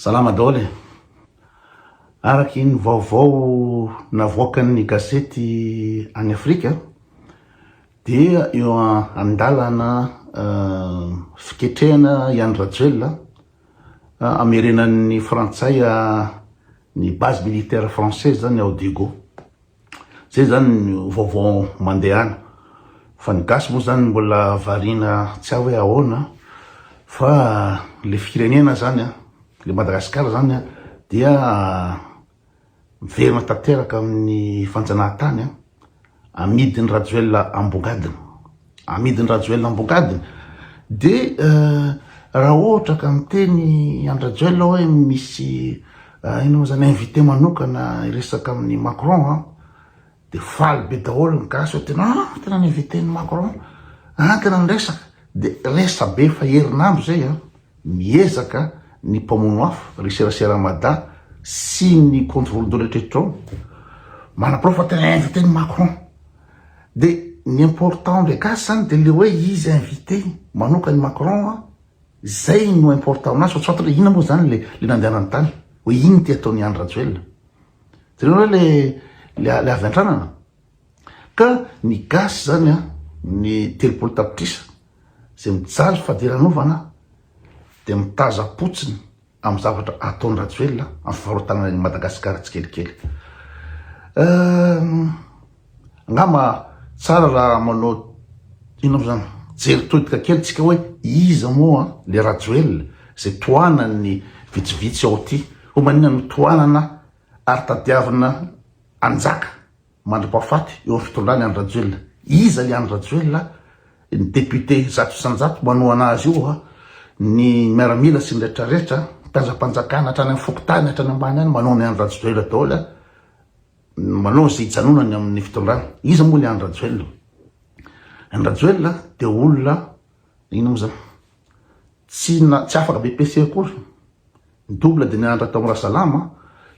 Salama daholo e! Araka ny vaovao navoakan'ny gazety any Afrika dia eo an-dalana fiketrehana i Andry Rajoelina hamerenan'ny frantsay ny base militaire française zany ao Diego. Zay zany no vaovao mandehana fa ny gasy moa zany mbola variana tsy hay hoe ahoana fa le firenena zany an, le Madagascar zany an dia miverina tanteraka amin'ny fanjanahantany an, amidin'i Rajoelina ambongadiny. amidin Rajoelina ambokadiny de raha ohatra ka miteny an Rajoelina hoe misy inona moa zany invité manokana hiresaka amin'ny Macron an de faly be daholo ny gasy hoe tena an tena ny invité ny Macron an tena niresaka de resabe efa herinandro zay an. Miezaka ny mpamono afo ry serasera Mada sy ny compte voalodoana eritreritro ao manaporofo fa tena invite ny Macron de ny important ndray gasy zany de le oe izy invite manoka ny Macron a zay no important aminazy fa tsy fantatra oe inona mo zany le le nandehanany tany oe ino ty ataony Andry Rajoelina itanareo le le avy antranana. Ka ny gasy zany an, ny telopolo tapitrisa izay mijaly fadiranovana dia mitazapotsiny amin'ny zavatra ataon'i Rajoelina amin'ny fivarotanana an'i Madagasikara tsikelikely. Angamba tsara raha manao inona moa zany, jery todika kely tsika hoe iza moa le Rajoelina izay tohanan'ny vitsivitsy ao ty, ho maninona no tohanana ary tadiavina hanjaka mandra-pahafaty eo amin'ny fitondran'i Andry Rajoelina. Iza i Andry Rajoelina? Ny député zato isan-jato manohana azy io, ny miaramila sy ny rehetra rehetra, mpiazam-panjakana hatrany amin'ny fokontany hatrany ambany any manohana i Andry Rajoelina daholo, manao izay hijanonany amin'ny fitondrana. Iza moa ilay Andry Rajoelina? Andry Rajoelina dia olona inona moa izany? Tsy na, tsy afaka BPC akory. Double de nianatra tao Rasalama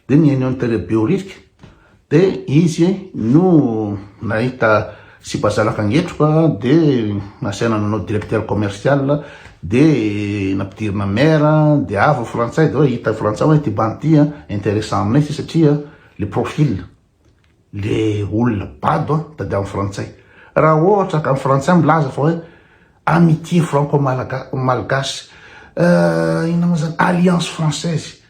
de nihaino an'i Tere Behoririka de izy no nahita sipa zanaka angetroka de nasaina nanao directeur commercial de nampidirina maire de avy ny frantsay de hoe hita frantsay hoe ty bandy ty intéressant aminay ty satria le profil le olona bado an, tadiavin'ny frantsay. Raha ohatra ka ny frantsay milaza fa hoe amitié franco malgache, euh, inona moa zany, alliance française,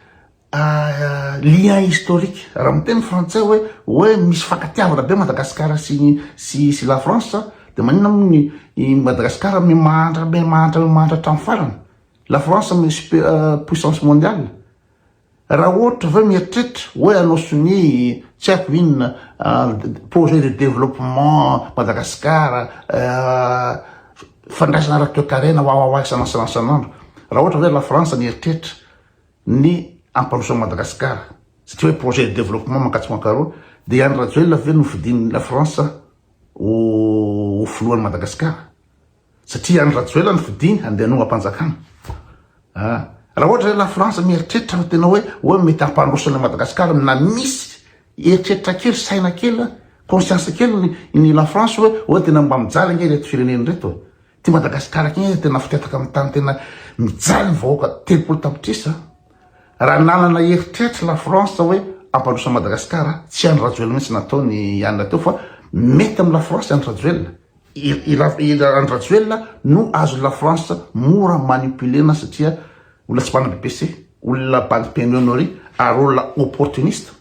ah, lien historique, raha miteny frantsay hoe, hoe misy fifankatiavana be Madagascar sy, sy, sy la France, de maninona moa ny, i Madagascar mi mahantra, mi mahantra, mi mahantra hatramin'ny farany? La France mi super, euh, puissance mondiale? Raha ohatra ve mieritreritra hoe hanao sonia tsy haiko inona projet de développement Madagascar fandraisana ara-toekarena wawawa isan'andro raha ohatra ve la France mieritreritra ny hampandroso an'i Madagascar satria hoe projet de développement mankatso mankaroa dia i Andry Rajoelina ve nofidin'i la France ho filohan'i Madagascar? Satria any Rajoela no fidiny handeha hanoham-panjakana. Ah! Raha ohatra izay la France mieritreritra fa tena hoe hoe mety hampandroso an'i Madagasikara na misy eritreritra kely, saina kely an, conscience kely ny ny la France hoe hoe tena mba mijaly ange ireto firenena ireto e. Ty Madagasikara ty ange tena fitataka amin'ny tany tena mijaly ny vahoaka telopolo tapitrisa. Raha nanana eritreritra la France hoe hampandroso an'i Madagasikara tsy Andry Rajoelina mihitsy nataony i Anna teo fa mety amin'ny la France Andry Rajoelina. I Andry Rajoelina no azon'i la France mora manipulena satria olona tsy mpanabe PC, olona bandy pemionnerie ary olona opportuniste,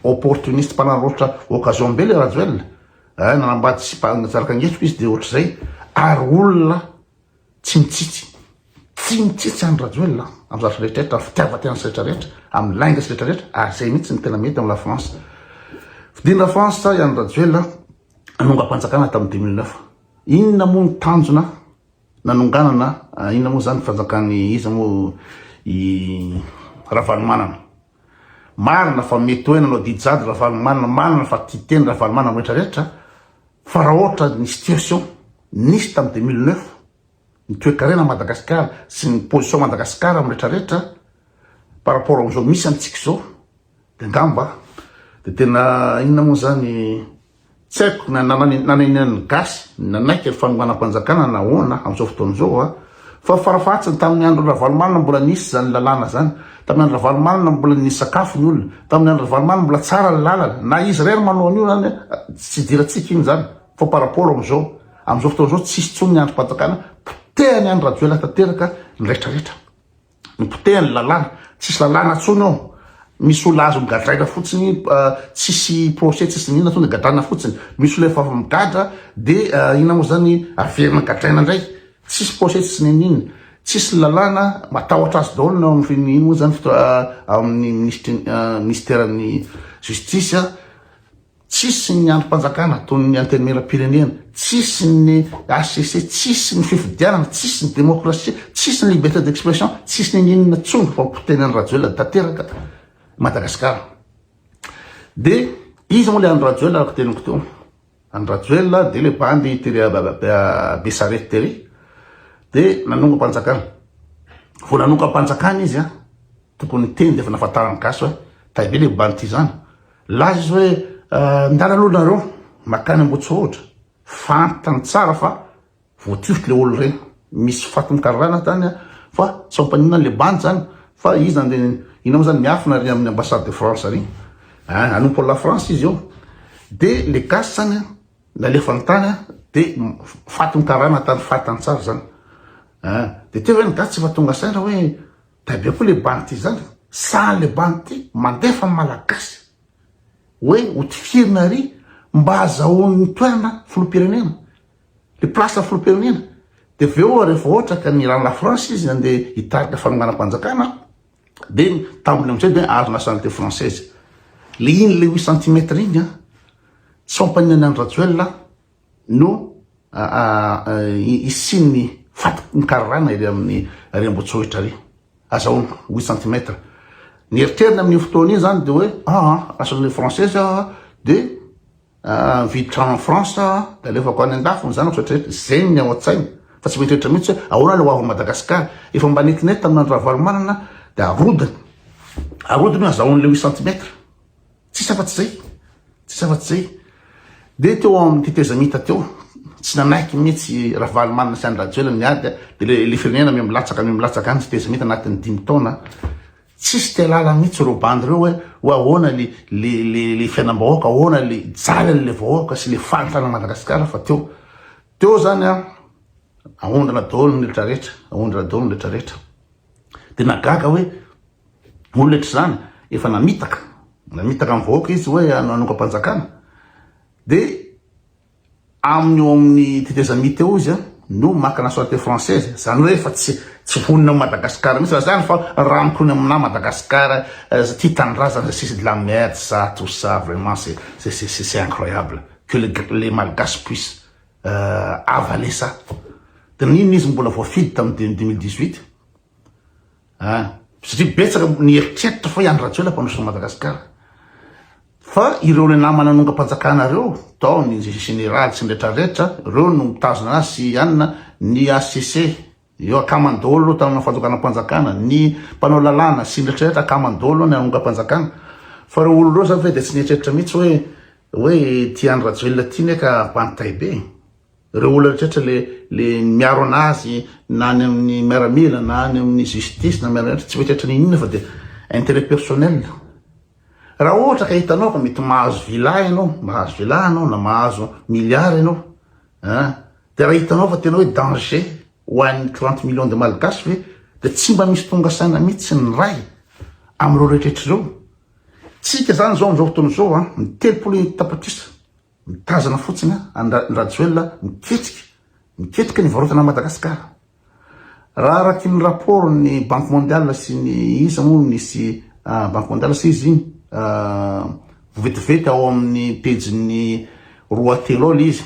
opportuniste mpanararaotra occasion be le Rajoelina, eh, nanambady sy mpanjaraka angetsoko izy dia ohatr'izay, ary olona tsy mitsitsy, tsy mitsitsy Andry Rajoelina amin'ny zavatra rehetrarehetra, amin'ny fitiavan-tenany sy rehetrarehetra, amin'ny lainga sy rehetrarehetra, ary izay mihitsy no tena mety amin'i la France. Fidin'i la France i Andry Rajoelina. nanongam-panjakana tamin'ny 2009. Inona moa ny tanjona nanonganana, inona moa izany fanjakan'ny iza moa i Ravalomanana. Marina fa mety hoe nanao didy jadona Ravalomanana, marina fa tia teny Ravalomanana amin'ny rehetra rehetra, fa raha ohatra ny situation nisy tamin'ny 2009, ny toekarena Madagasikara sy ny position Madagasikara amin'ny rehetra rehetra par rapport amin'izao misy antsika izao, De angamba de tena inona moa zany tsy haiko na nanenenan'ny gasy nanaiky ny fanohanam-panjakana na ahoana amin'izao fotoana izao a, fa farafahatsiny tamin'ny andron'i Ravalomanana mbola nisy zany lalàna zany, tamin'ny andron'i Ravalomanana mbola nisy sakafo ny olona, tamin'ny andron'i Ravalomanana mbola tsara ny lalana, na izy irery manao an'io zany tsy idirantsika iny zany, fa par rapport amin'izao, amin'izao fotoana izao tsisy intsony ny andrim-panjakana, potehany andry Rajoelina tanteraka ny retraretra. Mipoteha ny lalàna, tsisy lalàna tsony ao, misy olona azo migadraina fotsiny tsisy procès tsisy n'inona tonga de gadraina fotsiny, misy olona efa avy migadra de inona mo zany averina gadraina ndray, tsisy procès tsisy n'inon'inona, tsisy lalàna, matahotra azy daolo ny ao amin'ny ino mo zany amin'ny minisitry ny minisiteran'ny justice. Tsisy ny andrim-panjakana toy ny antenimieram-pirenena, tsisy ny HCC, tsisy ny fifidianana, tsisy ny demokrasia, tsisy ny liberté d'expression, tsisy ninininona tsony fa ho potehina an'i Rajoelina tanteraka Madagasikara. Dia iza moa le Andry Rajoelina araka teniko teo? Andry Rajoelina dia le bandy tery Besarety tery dia nanongam-panjakana. Vao nanongam-panjakana izy tokony teny dia efa nafantaran'ny gasy hoe taibe le bandy ity izany. Laza izy hoe ndana aloha nareo makany Ambohitsorohitra fantany tsara fa voatifitry le olona reny misy fatin'ny karana tany fa tsy fampaninona le bandy zany fa izy zany de ina mo zany miafina ary amin'ny ambassade de France ary hein anompo an'i la France izy io de le gasy zany nalefany tany de fatin'ny karana tany fantany tsara zany hein de teo ve ny gasy tsy efa tonga saina hoe Taibe koa le bandy ty zandry sahan le bandy ty mandefa ny malagasy hoe ho tifirina ary mba azahoan'ny toerana filoham-pirenena le place filoham-pirenena de avy eo rehefa ohatra ka ny rano la France izy nandeha hitarika fanonganam-panjakana de ny tambiny amin'izay de azo nationalité française le iny le huit centimètres iny a tsy fampanianan'i Rajoelina no hisian'ny fatoky ny kararàna ery amin'ny ery Ambohitsorohitra ery, azahoana huit centimètres. Ny eritreriny amin'iny fotoana iny izany dia hoe aa lasa ilay française aho dia mividy trano any France aho dia alefako any an-dafy ny zanako izay rehetra, izay ny ao an-tsainy fa tsy mieritreritra mihitsy hoe ahoana ilay ho avin'i Madagasikara. Efa mba netinety tamin'Andry Ravalomanana dia arodiny, arodiny hoe azahoany ilay huit centimètres. Tsisy afa-tsy izay, tsisy afa-tsy izay. Dia teo amin'ny tetezamita teo, tsy nanaiky mihitsy Ravalomanana sy an-dRajoelina ny ady, dia ilay firenena miha-milatsaka miha-milatsaka any, tetezamita anatin'ny dimy taona. Tsisy te-halala mihitsy ireo bandy ireo hoe hoe ahoana ilay fiainam-bahoaka, ahoana ilay jalan'ilay vahoaka sy ilay fahitana an'i Madagasikara fa teo. Teo izany an, ahondrana daholo ny rehetra rehetra, ahondrana daholo ny rehetra rehetra. Dia nagaga hoe Olona tsy zany efa namitaka namitaka ny vahoaka izy hoe hanongam-panjakana dia aminy eo amin'ny tetezamita eo izy no maka nationalité française izany hoe efa tsy tsy vonona amin'i Madagasikara mihitsy zany fa ranonkony aminà Madagasikara tia tanindrazana izay sisa de la merde ça tout ça vraiment c'est c'est c'est c'est incroyable que le les malgaches puissent avaler ça dia n'inona izy mbola voafidy tamin'ny deux mille dix-huit a, satria betsaka ny eritreritra fa i Andry Rajoelina mpanosotra an'i Madagasikara, fa ireo ilay nama nanongam-panjakana reo tao ny Général sy ny rehetra rehetra reo no mitazona azy sy i Anna, ny HCC eo akamany daholo tao amina fanonganam-panjakana, ny mpanao lalàna sy ny rehetra rehetra akamany daholo ny nanongam-panjakana, fa reo olona reo zany ve dia tsy nieritreritra mihitsy hoe hoe ity Andry Rajoelina ity ne ka mpanontay be e. Ireo olona rehetra le le miaro anazy na any amin'ny miaramila na any amin'ny justice na miaramila tsy mieritreritra ny inona fa dia intérêt personnel. Raha ohatra ka hitanao fa mety mahazo villa ianao, mahazo villa ianao na mahazo milliard ianao an! dia raha hitanao fa tena hoe danger ho an'ny trente millions de malgaches ve dia tsy mba misy tonga saina mihitsy ny Ray amin'ireo rehetrrehetra ireo? Tsika izany izao amin'izao fotoana izao an! Ny telopolo tapitrisa Mitazana fotsiny an ny rajoelina miketrika miketrika ny varotana any Madagascar. Raha araky ny rapport ny banque mondiale sy ny iza moa misy banque mondiale sy izy iny vetivety ao amin ny pejy ny roa telo ao le izy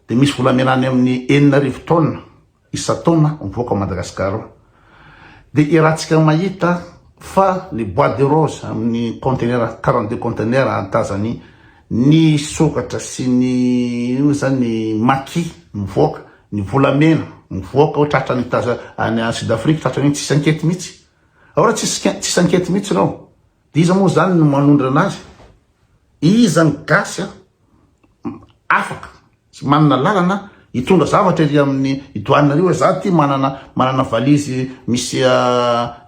de misy volamena any amin ny enina arivo tonne isan-taona mivoaka ao Madagasikara ao dia iarahantsika mahita fa ny bois de rose amin'ny conteneur quarante deux conteneur ahatazany ny sokatra sy ny io zany ny maki mivoaka ny volamena mivoaka ao tratra ny taza any Sud Afrique tratra ny tsisy ankety mihitsy ao raha tsisy tsisy ankety mihitsy ireo Iza moa zany no manondrana azy? Iza ny gasy an afaka sy manana lalana hitondra zavatra ery amin'ny douane ary hoe za ty manana manana valise misy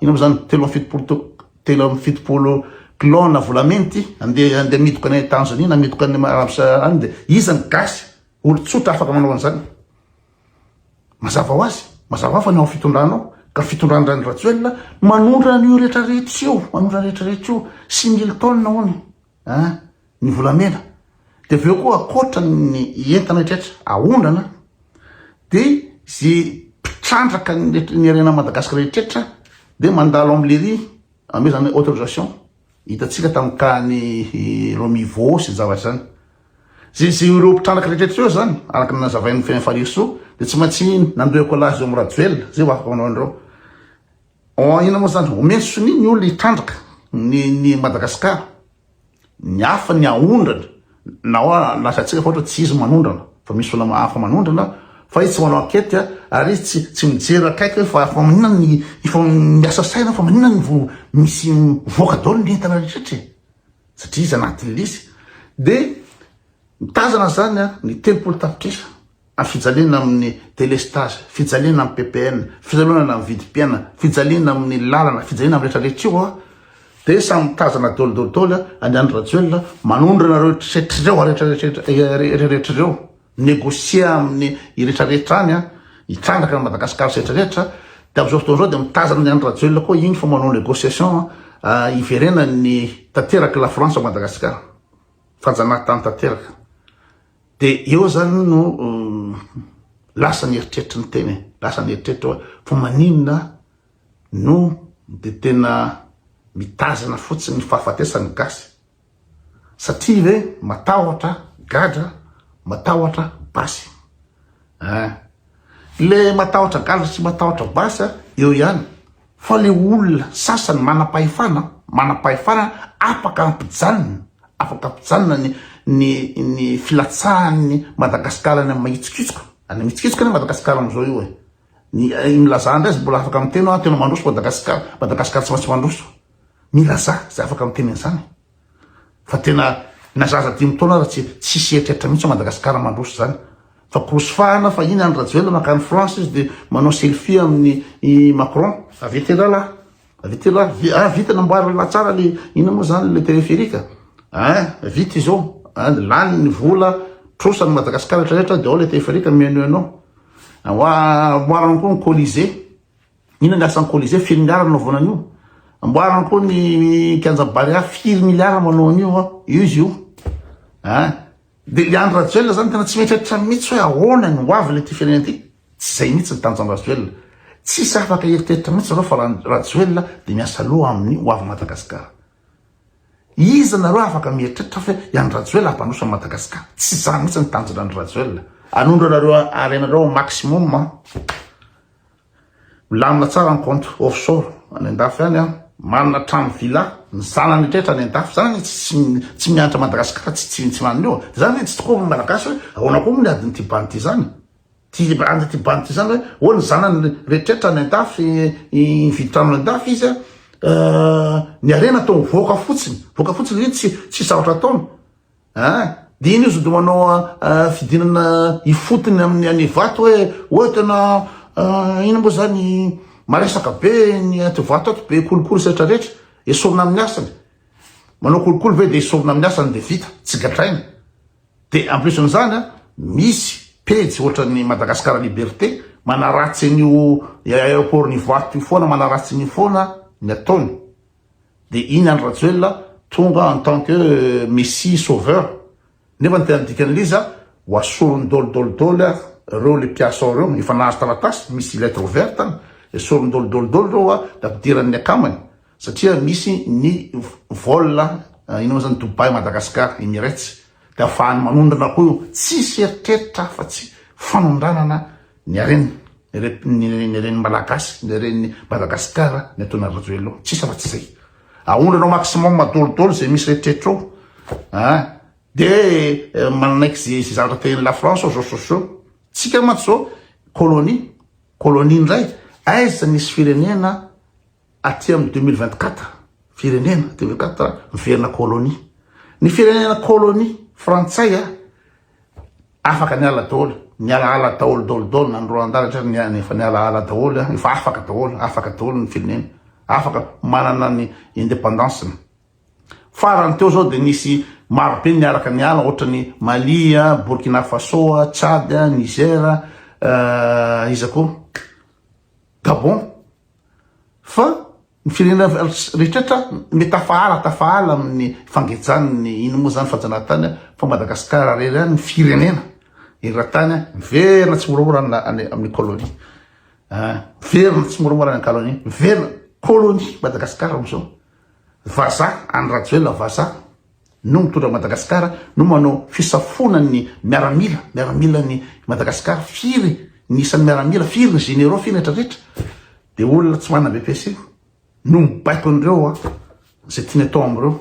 ino mo zany telo amby fitopolo to telo amby fitopolo kilao na volamena ity ande ande amidoka any Tanzania na amidoka any Arabie Saoudite any de iza ny gasy olo tsotra afaka manao an'zany? Mazava ho azy, mazava fa ny ao fitondranao ka fitondran-dRany Rajoelina manondro an'io rehetra rehetra io, manondro an'io rehetra rehetra io, six mille tonnes hono an, ny volamena. Dia avy eo koa ankoatra ny entana rehetra rehetra aondrana dia ze mpitrandraka ny ny harenan'i Madagasikara rehetra rehetra dia mandalo amin'ny lery. Amidy zany autorisation hitantsika tamin'ny tany Romivo sy ny zavatra izany. Ze ze ireo mpitrandraka rehetra ireo zany araka ny nazavain'ny Fiainan'i Farisoa dia tsy maintsy nandoa écolage eo amin'ny Rajoelina, zay ho afaka manao an'ireo. Inona moa zany? Omeny sonia ny olona hitrandraka ny ny Madagascar. Ny hafa ny haondrana na hoa lazatsika fa ohatra tsy izy manondrana fa misy olona hafa manondrana fa izy tsy manao ankety ary izy tsy tsy mijery akaiky hoe fa fa maninona ny efa miasa saina fa maninona ny vao misy mivoaka daholo ny entana rehetra e satria izy anatin'ny lisy dia mitazana zany a ny telopolo tapitrisa fijaliana amin'ny delestazy, fijaliana amin'ny ppn, fialonana amin'ny vidim-piainana, fijaliana amin'ny lalana, fijaliana amin'ny rehetra rehetra io an, dia samy mitazana dol dol dol an'i Andry Rajoelina manondro anareo tretry ireo rehetra rehetra rehetra ireo, negocier amin'ny rehetra rehetra any an, hitrandraka an'i Madagasikara sy rehetra rehetra, dia amin'izao fotoana izao dia mitazana an'i Andry Rajoelina koa iny fa manao negociation hiverenan'ny tanteraka i Lafrantsa ao Madagasikara, fanjanahantany tanteraka. Dia eo zany no lasa ny eritreritry ny tena e, lasa ny eritreritry hoe fa maninona no dia tena mitazana fotsiny ny fahafatesan'ny gasy, satria ve matahotra gadra, matahotra basy eh? Le matahotra gadra sy matahotra basy eo ihany. Fa le olona sasany manam-pahefana manam-pahefana afaka ampijanona afaka ampijanona ny ny ny filatsahan'ny Madagasikara any amin'ny mahitsokitsoka any mitsikitsoka ny Madagasikara amin'izao io e ny milazà indray izy mbola afaka miteny hoe tena mandroso Madagasikara Madagasikara tsy maintsy mandroso milazà izay afaka miteny an'izany Fa tena na zaza dimy taona aza tsy tsisy eritreritra mihitsy ao Madagascar mandroso zany. Fa kozy fahana fa iny Andry Rajoelina makany France izy de manao selfie aminy i Macron. Avy ety ralahy, avy ety ralahy, ah vita namboary ralahy tsara le inona moa zany le téléphérique ah, vita izao ah, lany ny vola, trosa ny Madagascar retraretra de ao le téléphérique mihainohaino ao, amboarany koa ny colisée. Inona ny asan'ny Colisée? Firy miliara no nanaovana an'io? Amboarina koa ny kianja Barea, firy miliara manao an'io an? Io izy io. An? Dia i Andry Rajoelina zany tena tsy mieritreritra mihitsy hoe ahoana ny ho avy ilay ity firenena ity. Tsy izay mihitsy ny tanjon'i Rajoelina. Tsisy afaka hieritreritra mihitsy nareo fa Rajoelina dia miasa loha amin'ny ho avy Madagasikara. Iza nareo afaka mieritreritra fa i Andry Rajoelina hampandroso an'i Madagasikara? Tsy izany mihitsy ny tanjon'i Andry Rajoelina. Anondranareo harena nareo au maximum an. Milamina tsara ny compte offshore any andafy any an! Manana trano villa ny zanany rehetra any andafy, zany anie tsy tsy mianatra Madagascar tsy tsy tsy manana io an! Zany anie tsy tokoa ny Malagasy hoe ahoana koa moa ny adin'ity bandy ity zany? Ty adin'ity bandy ity zany hoe oh ny zanany rehetrretra any andafy nividy trano any andafy izy an! Ny harena atao mivoaka fotsiny, mivoaka fotsiny, iny tsy tsisy zavatra ataony. Aa de iny izy de manao fidinana ifotony amin'ny any Ivato hoe oe tena ino moa zany maresaka be ny aty Ivato ato be kolikoly sy rehetra rehetra esorina amin'ny asany manao kolikoly ve de esorina amin'ny asany de vita tsy gadraina de en plus an'izany a misy pejy ohatran'ny Madagascar liberté manaratsy an'io aéroport-n'i Ivato io foana manaratsy an'io foana ny ataony dia iny Andry Rajoelina tonga en tant que Messie sauveur nefa ny tena dikan'ilay izy ho asoriny dol dol dol ireo ilay mpiasa ao ireo efa nahazo taratasy misy lettre ouverte any dia asoriny dol dol dol ireo dia ampidiran'ny akamany satria misy ny vol inona moa zany Dubai Madagascar Emirates dia afahany manondrana koa io tsisy eritreritra afa tsy fanondranana Ny harena, ny harena, ny haren'ny Malagasy, ny haren'ny Madagascar ny ataon'i Rajoelina, tsisy afa tsy zay. Aondrana maximum daholo zay misy rehetrrehetra ao ah, de eh, manaiky ze ze zavatra tehin'i la France ao zao sosio. Tsika mantsy zao colonie, colonie indray, aiza misy firenena aty amin'ny deux mille vingt quatre firenena deux mille vingt quatre miverina colonie ny firenena colonie frantsay a afaka niala daholo nialahala daholo daholo daholo na ny Rwanda rehetra ny any efa nialahala daholo a efa afaka daholo afaka daholo ny firenena afaka manana ny indépendance ny farany teo zao de nisy marobe niaraka niala ohatra ny Mali a Burkina Faso a Tchad a Niger a iza koa Gabon, fa ny firenena rehetrretra me tafahala tafahala amin'ny fangejany ny ino moa zany fajanahantany a, fa Madagascar rery any ny firenena eratany a miverina tsy moramora any amin'ny colonie a, miverina tsy moramora any ankalonie, miverina colonie Madagascar amizao, vazaha any Rajoelina vazaha. no mitondra Madagascar no manao fisafoana ny miaramila miaramila ny Madagascar firy ny isan'ny miaramila firy ny généraux firy rehetra rehetra de olona tsy manana BPC no mibaiko an'ireo a zay tiany atao am'ireo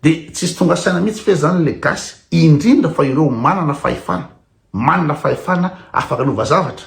de tsisy tonga saina mihitsy fe zany le gasy indrindra fa ireo manana fahefana manana fahefana afaka lova zavatra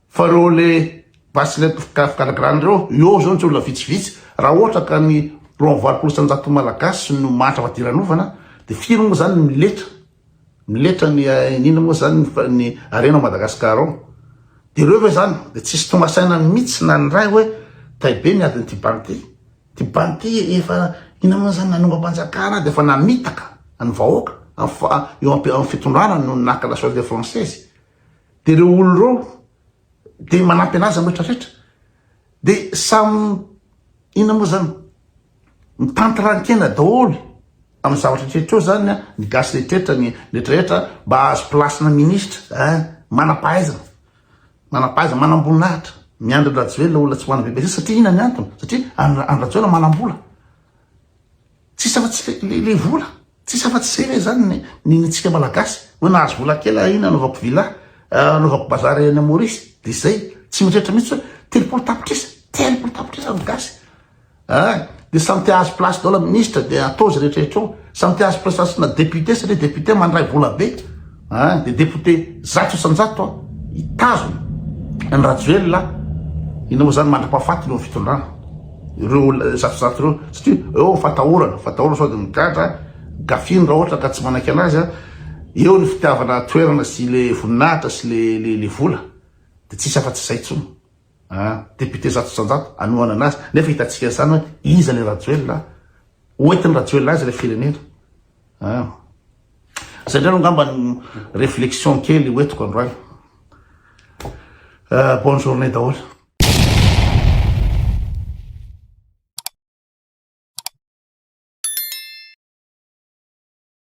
Fa reo le bracelet fikarakarana reo, eo zao tsy olona vitsivitsy, raha ohatra ka ny roa amby valopolo isanjaton'ny malagasy no mahantra fadiranovana de firy moa zany ny miletra, miletra ny iniana moa zany ny harena ao Madagascar ao, de reo ve zany de tsisy tonga saina mitsy na ny ray oe tay be ny adin'ity banky ty, ty banky ty efa ina moa zany nanongam-panjakana de efa namitaka ny vahoaka, eo am fitondrana no naka la solde française. Dia ireo olona ireo dia manampy anazy amin'ny rehetra rehetra. Dia samy inona moa izany? Mitantran-kena daholo amin'ny zavatra rehetra eo izany ny gasy rehetra rehetra, ny rehetra rehetra mba hahazo place-na ministra. Eh, manam-pahaizana, manam-pahaizana, manam-boninahitra. Miandry an'i Rajoelina olona tsy manam-bebe satria inona ny antony? Satria an'i Rajoelina manam-bola. Tsisy afa tsy le le vola. Tsisy afa tsy zay ve zany ny ny ny tsika malagasy. Hoe nahazo vola kely ah iny anaovako villa, anaovako bazary any Maurice. De zay. Tsy mieritreritra mihitsy hoe telopolo tapitrisa, telopolo tapitrisa ny gasy. Ah, de samy te hahazo place daholo minisitra de atao zay rehetra rehetra eo. Samy te hahazo prestation-na député satria député mandray vola be. An, dia député zato isan-jato an, hitazona an'i Rajoelina an, inona moa izany mandra-pahafatiny eo amin'ny fitondrana ireo zato isan-jato ireo, satria eo ny fatahorana, fatahorana sao dia migadra, gafiny raha ohatra ka tsy manaiky anazy an, eo ny fitiavana toerana sy ilay voninahitra sy ilay vola, dia tsisy afa-tsy izay intsony an, député zato isan-jato hanohana anazy, nefa hitantsika izany hoe iza ilay Rajoelina an, hoentin'i Rajoelina aiza ilay firenena? Hein. Zay ndray no angamba ny réflexion kely ho entiko androany. Euh, bonne journée daholo.